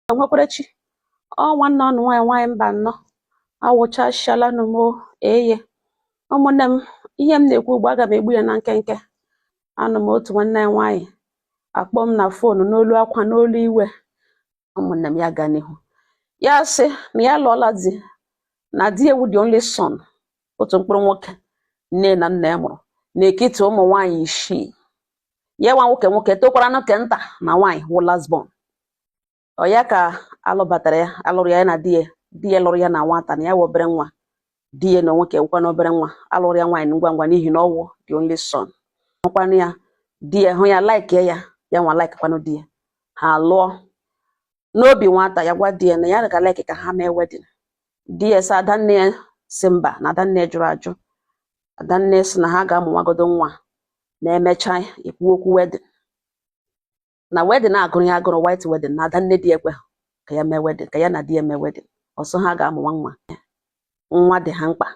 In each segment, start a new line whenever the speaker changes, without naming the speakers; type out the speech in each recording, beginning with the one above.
nwekwara chi ọ nwanne unu nwaanyị nwaanyị Mbanọ awụchasịalanụ m o eye ụmụnne m ihe m na-ekwu ugbu a aga m egbu ya na nkenke anọ m otu nwanne anyị nwaanyị akpọọ m na foonu n'olu akwa n'olu iwe ụmụnne m ya gaa n'ihu ya sị na ya lụọla di na di ya wụ the only son otu mkpụrụ nwoke nne na nna ya mụrụ n'ekiti ụmụ nwaanyị isii ya nwa nwoke nwoke tokwara nke nta na nwaanyị wụ last born ọ ya ka alụbatara ya alụrụ ya na di ya di ya lụrụ ya na nwata na ya wụ obere nwa di ya na onwe ke ya wụkwanụ obere nwa alụrụ ya nwaanyị ngwa ngwa n'ihi na ọ wụ the only son hụkwanụ ya di ya hụ ya laikie ya ya nwa laikikwanụ di ya ha lụọ n'obi nwata ya gwa di ya na ya ga laiki ka ha mee wedding di ya sị adanne ya sị mba na adanne jụrụ ajụ adanne sị na ha ga-amụ nwagodo nwa na e mechaa e kwuo okwu wedding na wedding agụrụ ya agụrụ white wedding na adanne di ekwe ka ya mee wedding ka ya na di ya mee wedding ọ sị ha ga-amụ nwa nwa nwa dị ha mkpa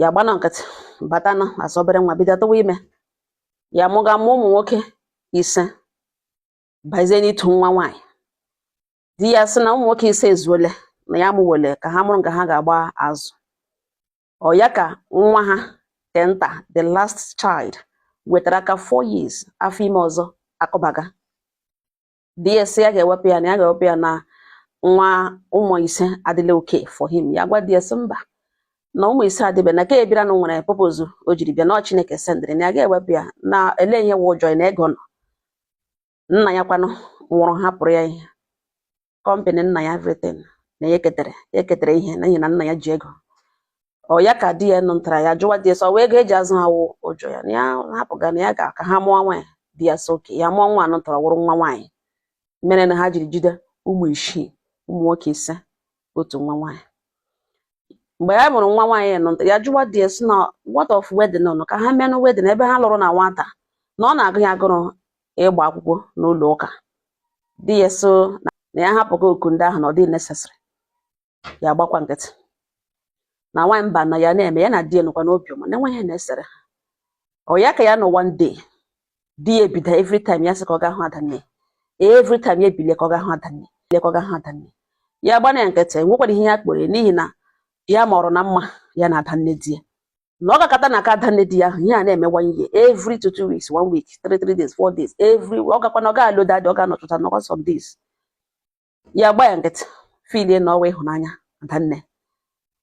ya gbaanụ nkịtị batanụ as obere nwa bido tụwa ime ya mụga mụọ ụmụ nwoke ise bazie n'ịtụ nwa nwaanyị di ya sị na ụmụ nwoke ise ezuole na ya mụwele ka ha mụrụ nke ha ga-agba azụ ọ ya ka nwa ha nke nta the last child wetara aka 4 years afọ ime ọzọ akụbaga di ya sị ya ga-ewepụ ya na ya ga-ewepụ ya na nwa ụmụ ise adịla okay for him ya gwa di ya sị mba na ụmụ ise adịbe na ke a bịara na nwere purpose o jiri bịa na Chineke sendịrị na ya ga-ewepụ ya na elee ihe wụ ụjọ na ego nọ nna ya kwanụ nwụrụ hapụrụ ya ihe company nna ya everything na ya eketara ya eketara ihe n'ihi na nna ya ji ego ọ ya ka di ya nụtara ya jụwa di ya sị ọ wụ ego eji azụ ha wụ ụjọ ya na ya hapụga na ya ga ka ha mụọ nwaanyị di ya sị okay ya mụọ nwa anụ tọrọ wụrụ nwa nwaanyị mere na ha jiri jide ụmụ isii ụmụ nwoke ise otu nwa nwaanyị mgbe ya mụrụ nwa nwaanyị ya nụtara ya jụwa di ya sị na what of wedding nụ ka ha meenụ wedding ebe ha lụrụ na nwata na ọ na-agụ ya agụrụ ịgba akwụkwọ n'ụlọ ụka di ya sị na ya hapụga okwu ndị ahụ na ọ dị necessary ya gbakwa nkịtị na nwaanyị Mbanọ ya na-eme ya na di ya nọkwa n'obi ọma na enweghị ihe na-esere ha ọ ya ka ya nọ one day di ya ebido every time ya sị ka ọ ga hụ adanne every time ya ebilie ka ọ ga hụ adanne bilie ka ọ ga hụ adanne ya gbana ya nkịtị nwekwara ihe ya kpọrọ n'ihi na ya mọrọ na mma ya na adanne di ya na ọ gakọta na aka adanne di ya ahụ ihe a na-eme one year every two two weeks one week three three days four days every ọ gakwa na ọ ga-alọ that day ọ ga-anọtụta nọkwa some days ya gba ya nkịtị filie na ọ wụ ịhụnanya adanne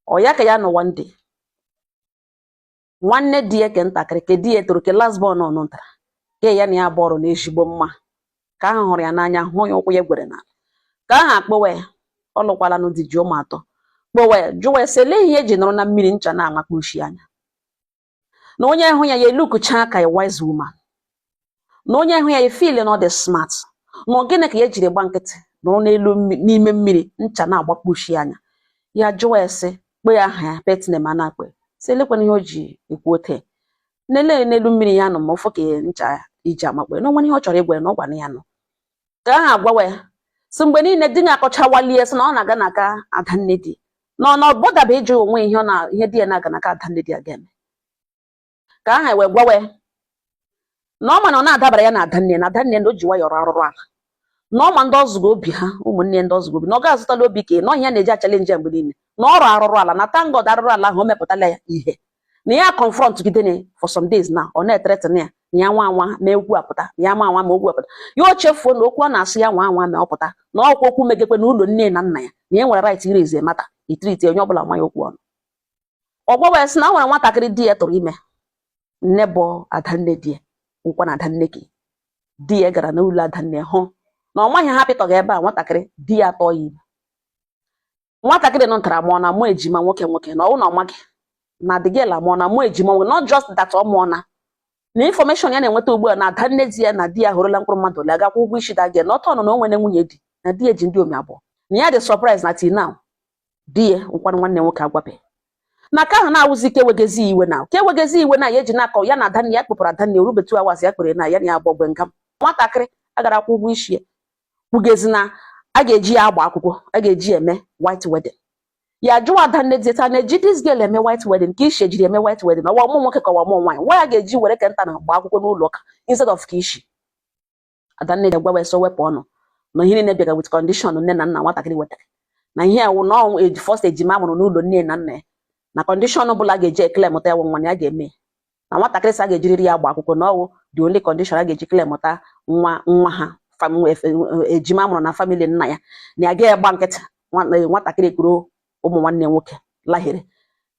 ọ ya ka ya nọ one day nwanne di ya ke ntakịrị ke di ya toro ke last born ọnụ ntara ke ya na ya bọọrọ na ezigbo mma ka ahụ hụrụ ya n'anya hụ ya ụkwụ ya gwere na ka ahụ akpọwa ya ọ lụkwala nụ di ji ụmụ atọ kpọwa ya jụwa ya sị elee ihe eji nọrọ na mmiri ncha na-amakpa ushi anya na onye hụ ya ya elookchaa ka a wise woman na onye hụ ya ya feel na ọ dị smart na gịnị ka ya jiri gba nkịtị nọrọ n'elu n'ime mmiri ncha na-agbakpa ushi anya ya jụwa ya sị kpe ya aha ya petine ma na-akpe sị elekwanụ ihe o ji ekwu ote nele n'elu mmiri ya nọ ma ọ fọ ka ncha iji amakpọ ya na o nwere ihe ọ chọrọ ịgwa ya na ọ gwara ya nọ ka ahụ agwawa ya sị mgbe niile di ya akọchawalie sị na ọ na-aga na ka adanne di na ọ na ọ botherba ịjụ onwe ihe ọ na ihe di ya na-aga na ka adanne di ya ga-eme ka aha wee gwawa ya na ọ ma na ọ na-adabara ya na adanne na adanne na o ji nwayọ rụọ arụrụ ala na ọ ma ndị ọ zụgo obi ha ụmụnne ndị ọ zụgo obi na ọ ga-azụtala obi ka na ọ ihe na-eji achallenge mgbe niile na ọ rụọ arụrụ ala na thank God arụrụ ala ahụ o mepụtala ya ihe na ya confront gide for some days na ọ na-ethreaten ya na ya nwa anwa mee okwu a pụta ya nwa anwa mee okwu a pụta ya o chefuo na okwu ọ na-asị ya nwa anwa ma ọ pụta na ọ kwa okwu megekwe na ụlọ nne na nna ya na ya nwere right iraise matter itreat onye ọbụla nwa ya okwu ọnụ ọ gwawa ya sị na o nwere nwatakịrị di ya tụrụ ime n'ebe adanne di ya nkwa na adanne gị di ya gara n'ụlọ adanne hụ na ọ maghị ha pịtọghị ebe a nwatakịrị di ya atụọ ya ime nwatakịrị nọ ntara mụọna ụmụ ejima nwoke nwoke na ọ wụ na ọ maghị na the girl amụọna ụmụ ejima nwoke not just that ọ mụọna na information ya na-enweta ugbu a na adanne di ya na di ya họrọla mkpụrụ mmadụ ole aga akwụ ụgwọ isi the girl na otu ọ nọ na o nwere nwunye di na di ya ji ndị omi abụọ na ya dị surprise na till now di ya wụkwanụ nwanne nwoke agwabeghị na ka ahụ na-awụzi ka ewegezi iwe na ka ewegezi iwe na ya eji na-akọ ya na adanne ya kpọpụrụ adanne orubetu awazi ya kpere na ya na ya agba ogbe nga nwatakịrị a gara akwụ ụgwọ isi ya kwugezi na a ga-eji ya agba akwụkwọ a ga-eji ya eme white wedding ya jụwa adanne di ta na-eji this girl eme white wedding ka ishi ejiri eme white wedding ọ wụ ụmụ nwoke ka ọ wụ ụmụ nwaanyị nwa ya ga-eji were kweta na agba akwụkwọ n'ụlọ ụka instead of ka ishi Adanne di agwawa ya sị ọ wepụ ọnụ na ihe niile bịara with condition nne na nna nwatakịrị wetara na ihe a wụ na ọ wụ the first ejima mụrụ n'ụlọ nne na nna ya na condition ọbụla ga-eji eclaimụta ya wụ nwa na ya ga-eme na nwatakịrị sị a ga-ejiriri ya agba akwụkwọ na ọ wụ the only condition a ga-eji claimụta nwa nwa ha ejima mụrụ na family nna ya na ya ga-agba nkịtị nwatakịrị kuru ụmụ nwanne nwoke lahere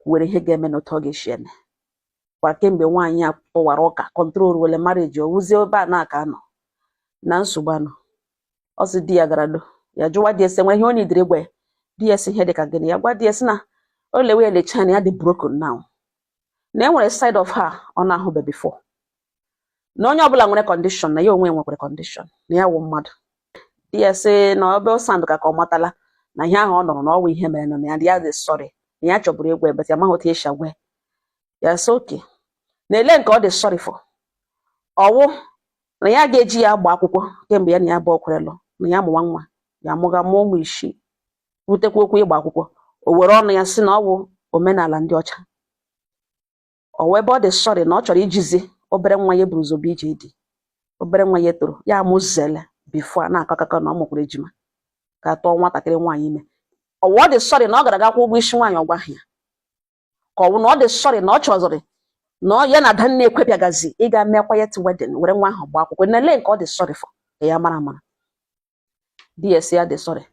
kwuwere ihe ga-eme na otu ọ ga-esi eme kwa kemgbe nwaanyị a kpọwara ụka control wele marriage ọ wụzie ebe a na-aka anọ na nsogbu anọ ọ sị di ya gara do ya jụwa di ya sị e nwee ihe ọ needịrị ịgwa ya di ya sị ihe dị ka gịnị ya gwa di ya sị na o lewe ya lechaa na ya dị broken now na e nwere side of her ọ na-ahụbe before na onye ọbụla nwere condition na ya onwe nwekwere condition na ya wụ mmadụ di ya sị na ọbe sound ka ka ọ matala na ihe ahụ ọ nụrụ na ọ wụ ihe mere nọ na ya dị ya dị sorry na ya chọburu ikwu ebe ya maghị otu esi agwa ya sị oke na ele nke ọ dị sorry for ọ wụ na ya ga-eji ya agba akwụkwọ kemgbe ya na ya abụọ kwere lụ na ya mụwa nwa ya mụga mụọ ụmụ isii butekwa okwu ịgba akwụkwọ o were ọnụ ya sị na ọ bụ omenala ndị ọcha ọ wụ ebe ọ dị sorry na ọ chọrọ ijizi obere nwa ya buru ụzọ bịa ije di obere nwa ya tọrọ ya amụzele before a na-akọ akụkọ na ọ mụkwara ejima ka tụọ nwatakịrị nwaanyị ime ọ wụ ọ dị sorry na ọ gara ga kwụọ ụgwọ isi nwaanyị ọ gwaghị ya ka ọ wụ na ọ dị sorry na ọ chọziri na ya na adanne ekwebịagazi ịga mee quiet wedding were nwa ahụ gbaa akwụkwọ na ele nke ọ dị sorry for ka ya mara amara di ya sị ya dị sorry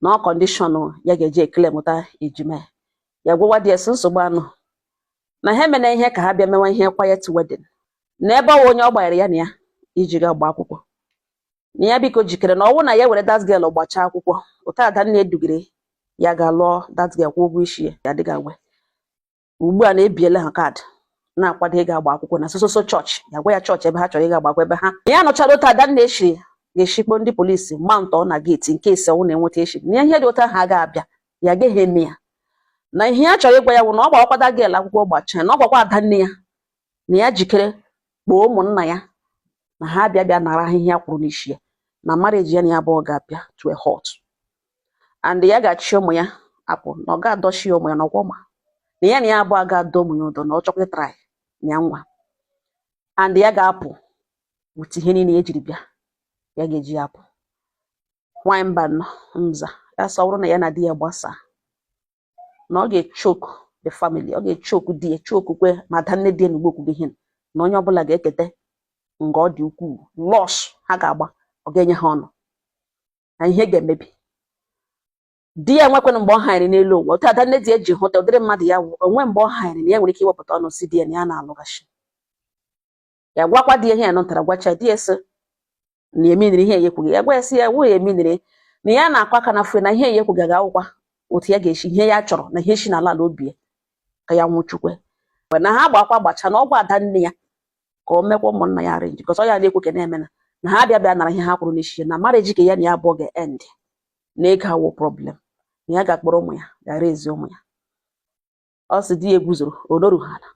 na ọ condition ya ga-eji ekele mụta ejima ya gwawa di ya sị nsogbu anọ na ha emena ihe ka ha bịa mewa ihe quiet wedding na ebe ọ wụ onye ọ gbanyere ya n'anya iji ga gba akwụkwọ na ya biko jikere na ọ wụ na ya were that girl gbachaa akwụkwọ otu ada nne ya dugere ya ga lụọ that girl kwụọ ụgwọ isi ya ya dịga nwe ugbu a na e biele ha kaadị na-akwado ịga agba akwụkwọ na sososo chọọchị ya gwa ya chọọchị ebe ha chọrọ ịga agba akwụkwọ ebe ahụ ya nụchara otu adanne ya siri ga-echikpo ndị polisi mount na geeti in case ọ na-enweta echi na ihe dị otu ahụ agaghị abịa ya agaghị eme ya na ihe ya chọrọ ịgwa ya bụ na ọ gbakwa that girl akwụkwọ gbachaa na ọ gwakwa ada nne ya na ya jikere kpọọ ụmụnna ya na ha abịa bịa nara ihe ha kwụrụ n'isi ya na marriage ya na ya abụọ ga-abịa to a halt and ya ga-achị ụmụ ya apụ na ọ ga-adọchi ya ụmụ ya na ọkwa ọ ma na ya na ya abụọ ga-adọ ụmụ ya ụdọ na ọ chọkwa ịtry ya nwaa and ya ga-apụ with ihe niile ya jiri bịa ya ga-eji ya apụ nwanyị Mbano na-aza ya sị ọ bụrụ na ya na di ya gbasaa na ọ ga-echoke the family ọ ga-echoke di ya chokekwe ma ada nne di ya na ugbo kwugo ihe na onye ọbụla ga-eketa nga ọ dị ukwuu loss ha ga-agba ọ ga-enye ha ọnụ na ihe ga-emebi di ya nwekwana mgbe ọ hanyere n'elu ụwa otu ada nne di ya ji hụta ụdịrị mmadụ ya wụ o nwe mgbe ọ hanyere na ya nwere ike iwepụta ọnụ sị di ya na ya na-alụghachi ya gwakwa di ya ihe ya nụtara gwacha di ya sị na emeaniri ihe ya ekwughị ya gwa ya sị ya wụ ya emeaniri na ya na-akwa aka na fue na ihe ya ekwughị ga-awụkwa otu ya ga-esi ihe ya chọrọ na ihe si n'ala ala obi ya ka ya nwụchukwe mgbe na ha gbakwa gbacha na ọ gwa ada nne ya ka o mekwa ụmụnna ya arrange because ọ ya na-ekwu ka na-eme na na ha abịa bịa nara ihe ha kwụrụ n'isi ya na marriage ka ya na ya abụọ ga-end na ego awụ problem na ya ga-akpọrọ ụmụ ya gara azụ ụmụ ya ọ sị di ya eguzoro ọ nọrụ ha ala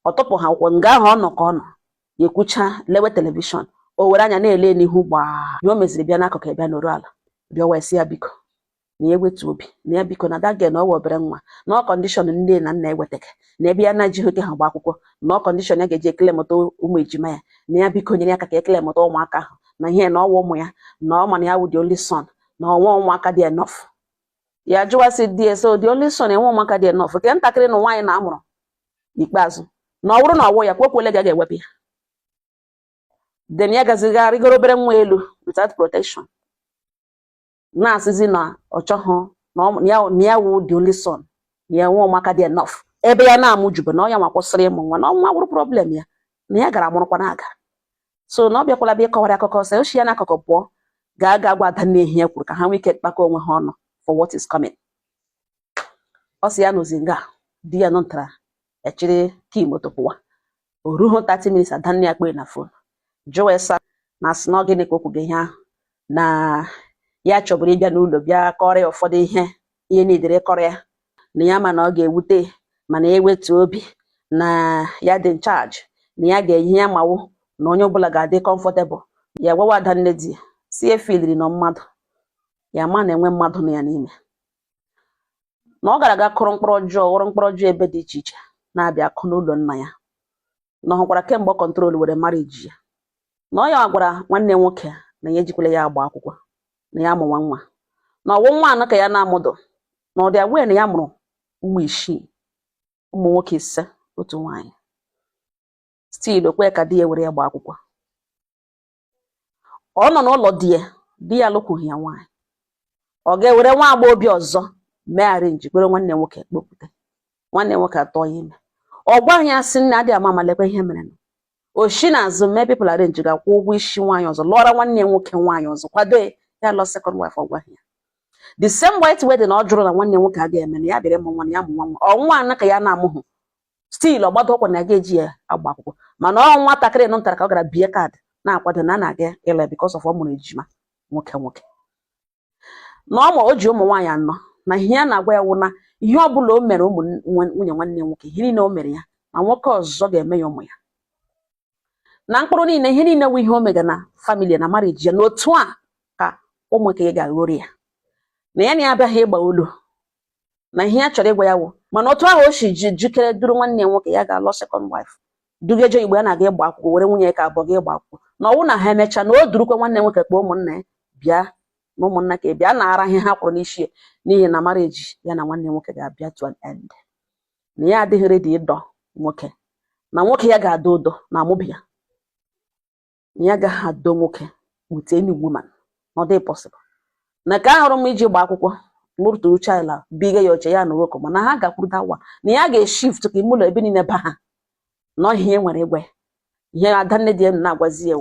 ọ tụpụ ha akwụkwọ nga ahụ ọ nọ ka ọ nọ ya ekwucha lewe telivishọn o were anya na-ele n'ihu mgbe o meziri bịa n'akụkụ ya bịa nọrọ ala bịa wee sị ya biko na ya wetu obi na ya biko na that girl na ọ wụ obere nwa na ọ condition nne na nna ewetaghị na ebe ya na-ejighị oke ha gba akwụkwọ na ọ condition ya ga-eji eklemụta ụmụ ejima ya na ya biko nyere ya aka ka eklemụta ụmụaka ahụ na ihe na ọ wụ ụmụ ya na ọ ma na ya wụ the only son na o nwe ụmụaka dị enough ya jụwa sị di ya so the only son enwe ụmụaka dị enough ke ntakịrị na nwaanyị na-amụrụ n'ikpeazụ na ọ bụrụ na ọ wụ ya kwekwele ga-ewepụ ya then ya gazie ga rịgoro obere nwa elu without protection na-asịzi na ọ chọghị na ọ- ya na ya wụ the only son na ya nwe ụmụaka dị enough ebe ya na-amụ jube na ọ ya nwa kwụsịrị ịmụ nwa na ọ nwa wụrụ problem ya na ya gara mụrụkwa na-aga so na ọ bịakwala bịa ịkọwara akụkọ sị o shi ya n'akụkụ pụọ gaa gaa gwa ada nne ya kwuru ka ha nwee ike kpakọ onwe ha ọnụ for what is coming ọ sị ya nọzi nga di ya nụtara echiri key moto pụwa o rughị 30 minutes ada nne ya kpee na phone jụọ ese na asị na ọ gịnị ka o kwuga ihe ahụ na ya chọburu ịbịa n'ụlọ bịa kọrọ ya ụfọdụ ihe ihe nidere kọrọ ya na ya ma na ọ ga-ewute mana ya wetu obi na ya dị in charge na ya ga-eyi ihe ya ma wụ na onye ọbụla ga-adị comfortable ya gwawa ada nne di ya sị efiliri nọ mmadụ ya ma na-enwe mmadụ nọ ya n'ime na ọ gara aga kụrụ mkpụrụ ọjọọ ghọrọ mkpụrụ ọjọọ ebe dị iche iche na-abịa akụ n'ụlọ nna ya na ọ hụkwara kemgbe ọ control were marriage ya na ọ ya gwara nwanne nwoke na ya ejikwala ya agba akwụkwọ na ya amụwa nwa na ọ wụ nwa anọ ka ya na-amụdụ na ọ dị aware na ya mụrụ ụmụ isii ụmụ nwoke ise otu nwaanyị still o kwe ka di ya were ya gba akwụkwọ ọ nọ n'ụlọ di ya di ya alụkwughị ya nwaanyị ọ ga-ewere nwa agbọghọbịa ọzọ mee arrange kwere nwanne nwoke kpọpụta nwanne nwoke atụọ ya ime ọ gwaghị ya sị nne adịghị ama ama lekwa ihe mere na o shi n'azụ mee people arrange ga kwụọ ụgwọ isi nwaanyị ọzọ lụọra nwanne nwoke nwaanyị ọzọ kwado ya ya lụọ second wife ọ gwaghị ya the same white wedding ọ jụrụ na nwanne nwoke agaghị eme na ya bịara ịmụ nwa na ya mụ nwa nwa ọ nwa anọ ka ya na-amụhụ still ọ gbado ọkwa na ga-eji ya agba akwụkwọ mana ọ nwatakịrị nọ ntara ka ọ gara bie card na-akwado na a na-aga ịla because of ọ mụrụ ejima nwoke nwoke na ọ ma o ji ụmụ nwaanyị anọ na ihe ya na-agwa ya wụ na ihe ọ bụla o mere ụmụ nwunye nwanne nwoke ihe niile o mere ya na nwoke ọzọ ga-eme ya ụmụ ya na mkpụrụ niile ihe niile wụ ihe o mega na family na marriage ya na otu a ka ụmụ nke ya ga-aghọrọ ya na ya na ya abịaghị ịgba olu na ihe ya chọrọ ịgwa ya wụ mana otu ahụ o si jikere duru nwanne nwoke ya ga lụọ second wife dugeje igbo ya na-aga ịgba akwụkwọ were nwunye ya nke abụọ ga ịgba akwụkwọ na ọ wụ na ha emechaa na o durukwa nwanne nwoke kpọọ ụmụnna ya bịa na ụmụnna ka bịa nara ihe ha kwụrụ n'isi n'ihi na marriage ya na nwanne nwoke ga-abịa to an end na ya adịghị ready ịdọ nwoke na nwoke ya ga-adọ ụdọ na amụbi ya na ya agaghị adọ nwoke with any woman ọ dịghị possible na ka ahụrụ m iji gba akwụkwọ mụrụtụrụ chila biga ya oche ya na nwoke mana ha gakwuru dawa na ya ga-eshift ka ime ụlọ ebe niile ba ha na ihe nwere igwe ihe ada nne di ya na-agwazi ya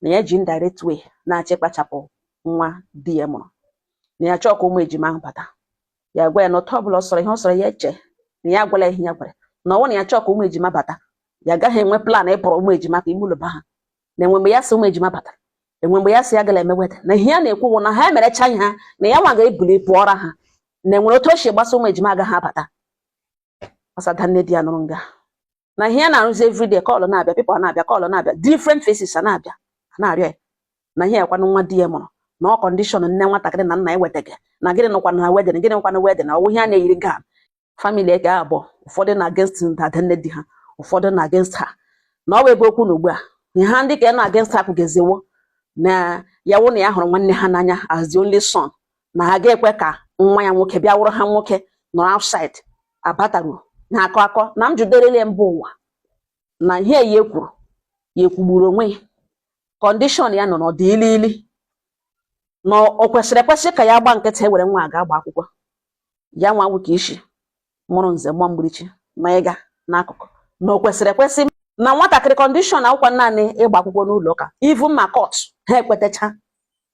na ya ji indirect way na-achụkpachapụ nwa di ya mụrụ na ya chọọ ka ụmụ ejima ahụ bata ya gwa ya na otu ọbụla ọ sọrọ ihe ọ sọrọ ya eche na ya agwala ihe ya gwara na ọnwụ na ya chọọ ka ụmụ ejima bata ya agaghị enwe plan ịpụrụ ụmụ ejima ka ime ụlọ ha na enwe mgbe ya si ụmụ ejima bata enwe mgbe ya si ya gala emeweta na ihe ya na-ekwu bụ na ha emerecha ihe ha na ya nwa ga-ebuli pụọra ha na enwere otu o si gbasa ụmụ ejima agaghị abata ọ sị ada nne di ya nụrụ nga na ihe ya na-arụzi everyday call na-abịa people a na-abịa call na-abịa different faces a na-abịa a na-arịọ ya na ihe ekwanụ nwa di ya mụrụ na ọ condition nne nwatakịrị na nna ya wetaghị na gịnị nọkwanụ na wedding gịnị nọkwanụ wedding na ọ wụ ihe a na-eyiri gown family ekee abụọ ụfọdụ na against ada nne di ha ụfọdụ na against ha na ọ bụ ebe okwu nọ ugbu a ihe ha ndị ka na against ha kwugeziwo na ya wụ na ya hụrụ nwanne ha n'anya as the only son na ha ga-ekwe ka nwa ya nwoke bịa wụrụ ha nwoke nọrọ outside abataru na akọ akọ na m jụderele mba ụwa na ihe ya ekwuru ya ekwugburu onwe ya condition ya nọ na ọ dị ili ili na o kwesịrị ekwesị ka ya gba nkịtị e were nwa a gaa gba akwụkwọ ya nwa wụ ka isi mụrụ nze gba mgbirichi ma ịga n'akụkụ na o kwesịrị ekwesị na nwatakịrị condition akwụkwọ naanị ịgba akwụkwọ n'ụlọ ụka even ma court ha ekwetacha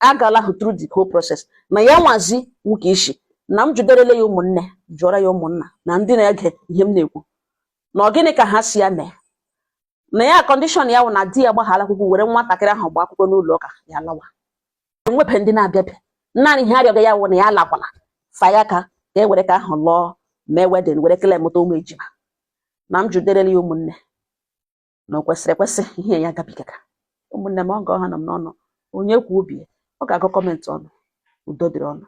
agala hụ through the whole process na ya nwazi wụ ka isi na m jụderele ya ụmụnne jụọra ya ụmụnna na ndị na-ege ihe m na-ekwu na ọ gịnị ka ha sị ya mee na ya condition ya wụ na di ya gbaghara akwụkwọ were nwatakịrị ahụ gba akwụkwọ n'ụlọ ụka ya lawa enwebeghị ndị na-abịa abịa naanị ihe a rịọga ya wụ na ya alakwala fa ya ka ka e were ka ahụ lụọ mee wedding were kele mụta ụmụ ejima na m jụderela ya ụmụnne na o kwesịrị ekwesị ihe ya gabigaga ụmụnne ma agaghị anụ m n'ọnụ onye kwuo obi ya ọ ga-agụ comment unu udo dịrị unu